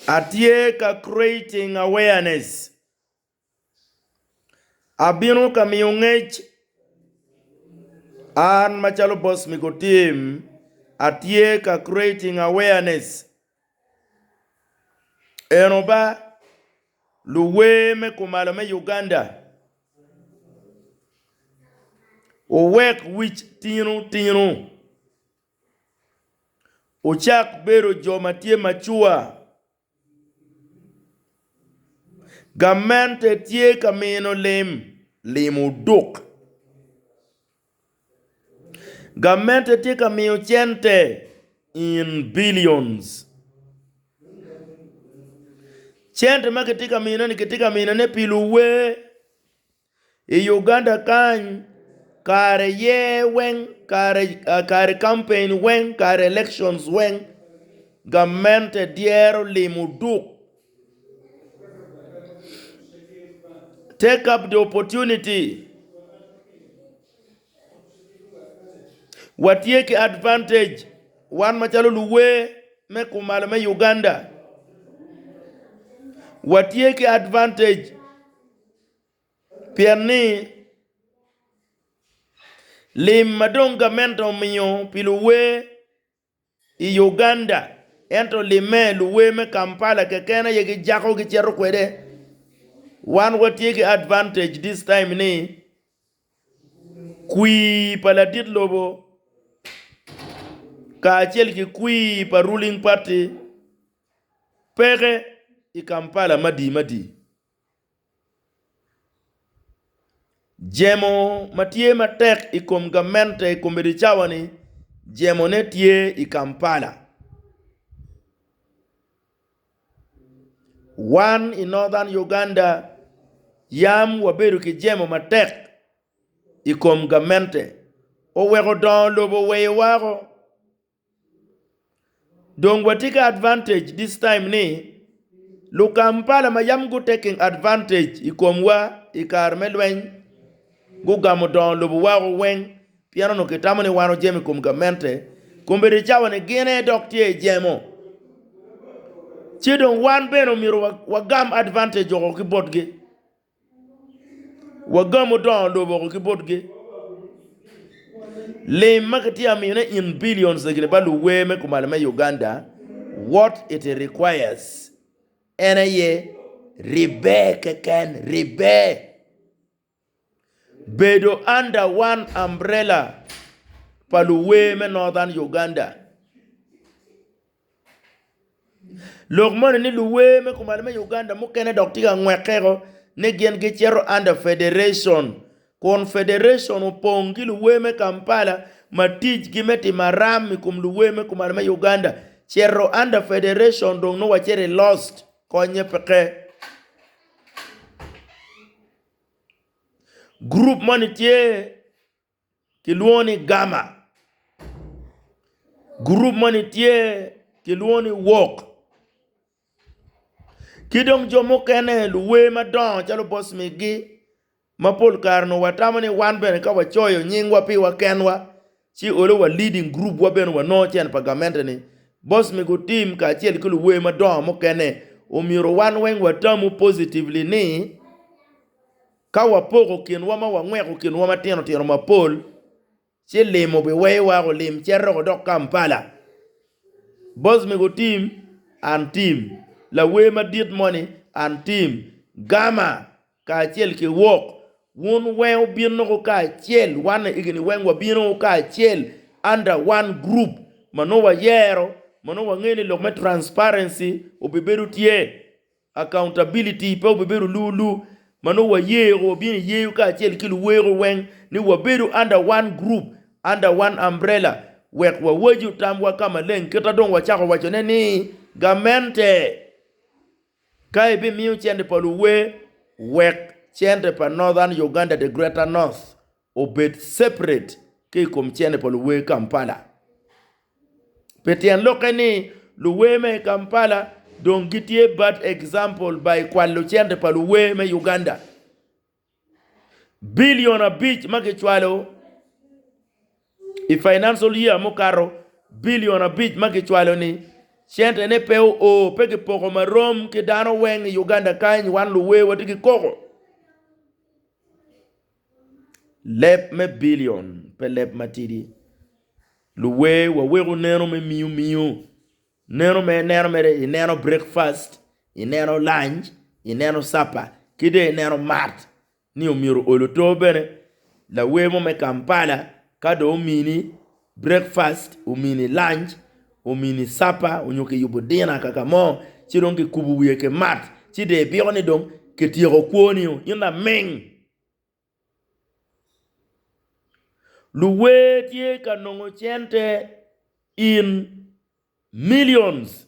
Atye ka creating awareness, abino ka miyo ngec an macalo boss me go team atye ka creating awareness eno ba luwer me kumalo me Uganda wuwek wic tino tino. Wucak bedo jo ma tye macua. Gamente tye ka mino lim, lim oduk. Gamente tye ka miyo cente in billions. Cente ma kitye ka miyone-ni kitye ka miyone pi luwe. I Uganda kany kare yer weng kare campaign weng kare elections weng gamente dyero limo duk take up the opportunity watye ki advantage wan macalo luwer me kumalo me Uganda watye ki advantage. Pien ni lim ma dong gamente omiyo pi luwer i Uganda ento limme luwer me Kampala keken aye gijako gicito kwede, wan watye ki advantage this time ni kwir pa ladit lobo kacel ki kwir pa ruling party peke i Kampala madi madi. Jemo ma tye matek i kom gamente i komiti cawani jemone tye i Kampala wan i Northern Uganda yam wabedo ki jemo matek i kom gamente oweko dongo lobo oweyo wa. Dong watye ki advantage this time ni lukampala ma yam gu taking advantage I komwa I kare me lweny gugamo dongo lobo wako weng pien onongo kitamo ni wan ojemo I kom gamente kombeddi I cawa ni gin aye dok tye I jemo ci dong wan bene omyero wagam advantage woko ki botgi. Wagamo dongo lobo ki botgi. Lim ma kitye ka miyone in billions egini pa luwer me kumalo me Uganda what it requires en aye ribbe keken ribbe bedo under one umbrella pa luwer me northern Uganda. Lok moni ni luwer me kumalli me Uganda mukene dok tye ka ngwekeko ni gin gicito under federation kun federation opong ki luwer me Kampala ma ticgi me timo aram i kom luwer me kumalli me Uganda cito under federation dong nongo wacito i lost konye peke. Group moni tye kilwongo ni Gamma, gurup moni tye kilwongo ni Work, ki dong jo mukene luwer madongo calo Boss Miggy ma pol kare onongo watamo ni wan bene ka wacoyo nyingwa piwa kenwa ci olo wa leading group wa bene wa nongo cen pa gamente-ni. Boss Miggy Otim kacel ki luwer madongo mukene omyero wan weng watamu positively ni Ka wapoko kinwa ma wangweko kinwa matino tino mapol ci lim obiweyo wako lim cito dok Kampala. Boss mego team and team lawer madit moni and team Gama kacel ki Wok wun weng wubino ko kacel one egini weng wabino ko kacel under one group manongo wayero manongo wangeyo ni lok me transparency obibedo tye Accountability pe obibedo luu luu ma nongo wayeo wabino i yeo kacel ki luweko weng ni wabedo under one group, under one umbrella wek wawaco tamwa ka maleng kita dong wacako wacone ni gamente ka ebimiyo cente pa luwe wek cente pa Northern Uganda the greater North obed separate ki i kom cene pa luwer Kampala. Pi tyen lokke ni luwer me Kampala dong gitye bad example by kwalo cente pa luwer me Uganda billion abic ma kicwalo i financial year mukato billion abic ma kicwalo ni cente ne pe oo pe kipoko marom ki dano weng i Uganda kany wan luwer watye ki koko. Leb me billion pe leb matidi. Luwer waweko neno me miyo miyo, neno me neno mere i neno breakfast, i neno lunch, i neno supper ki dong i neno mat ni omyero ol oto bene lawer mo me Kampala ka dong omini breakfast, omini lunch, omini supper onyo kiyubo dinner kaka mo ci dong kikubo wiye ki mat ci dong ibiko ni dong kityeko kwo ni o in laming. Luwer tye ka nongo cente in millions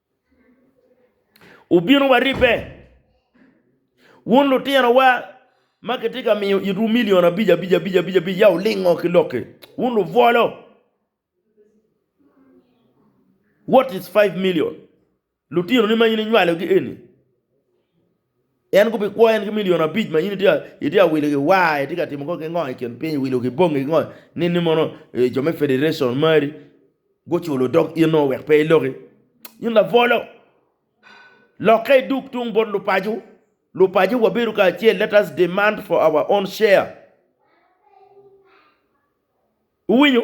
Wubino wa ribbe, wun lutinowa ma kitye ka miyo itwu milion abic abic abic, ya wulingo ki lok-ki, wun lubwolo! What is five million? Lutinoni ma in inywalogi eni? En gubikwoyo en ki milion abic ma in itye ka wilo ki war, itye ka timo kong ki ngo i kin piny, iwilo ki bongi ki ngo ni ni mono jo me federation mari guculo dog in o wek pe iloki. In labolo lokke idug tung bot lupaco, lupaco wabedo kacel let us demand for our own share iwinyo.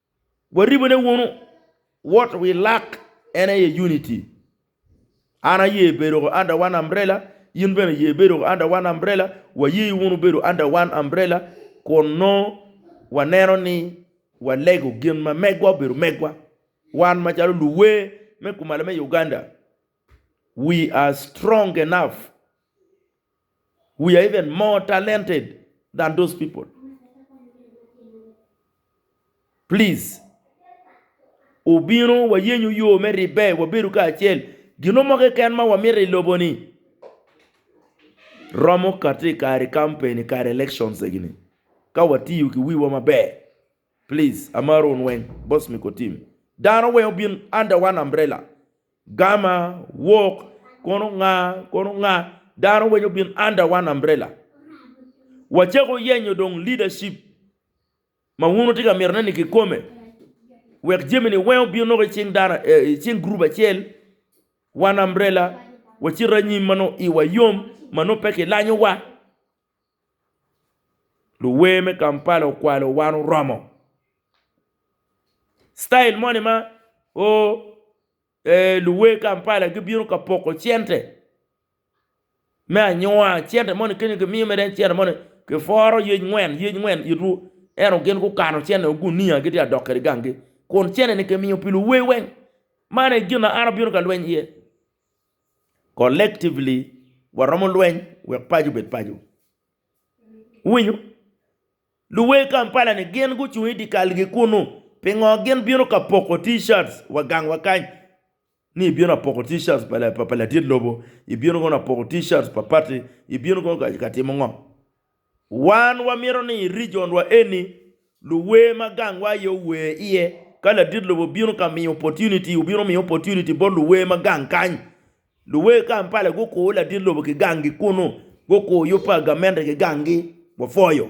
Waribone wunu wot wi lak en aye unity. An aye bedo under one umbrella, in bene ye bedo under one umbrella, waye wunu bedo under one umbrella kun nongo waneno ni walego gin ma megwa obedo megwa. Wan macalo luwer me kumalo me Uganda, we are strong enough we are even more talented than those people please obino wayenyo yo me ribbe wabedo kacel gino mo keken ma wamito i lobo ni romo kati kare kampen kare elections egini ka watiyo ki wiwa maber. Please amaro un weng boss me ko team dano weng obin under one umbrella gama walk kono nga kono nga dano weng obin under one umbrella wacako yenyo dong leadership ma wun wutye ka mito ne ni kikome wek jami ni weng obin nongo icing dano icing group acel one umbrella wacit anyim manongo iwa yom manongo pe kilanyo wa. Luwer me Kampala okwalo wan oromo style moni ma ooh eeh luwer Kampala gibino ka poko cente me anyuwa cente moni kany gimiyo mere en cente moni kipworo yec ngwen yec ngwen it ru ento gin gukano cente o gunia gitye ka dok kwede gangi kun cente ni kimiyo pi luwer weng man aye gin ma an abino ka lweny iye. Collectively, waromo lweny wek paco obed paco. Wuwinyo? Luwer Kampala ni gin gucung i dikal gi kunu, pingo gin bino ka poko T-shirts wa gang wa kany, ni ibino apoko T-shirts pa ladit lobo, ibino kono apoko T-shirts pa party, ibino kono ka timo ngo? Wan wamito ni i regionwa eni, luwer ma gangwa aye ower iye, ka ladit lobo bino ka miyo opportunity, obino miyo opportunity bot luwer ma gang kany. Luwer Kampala gukuru ladit lobo ki gangi kunu, gukuru yub pa gamente ki gangi, wapwoyo.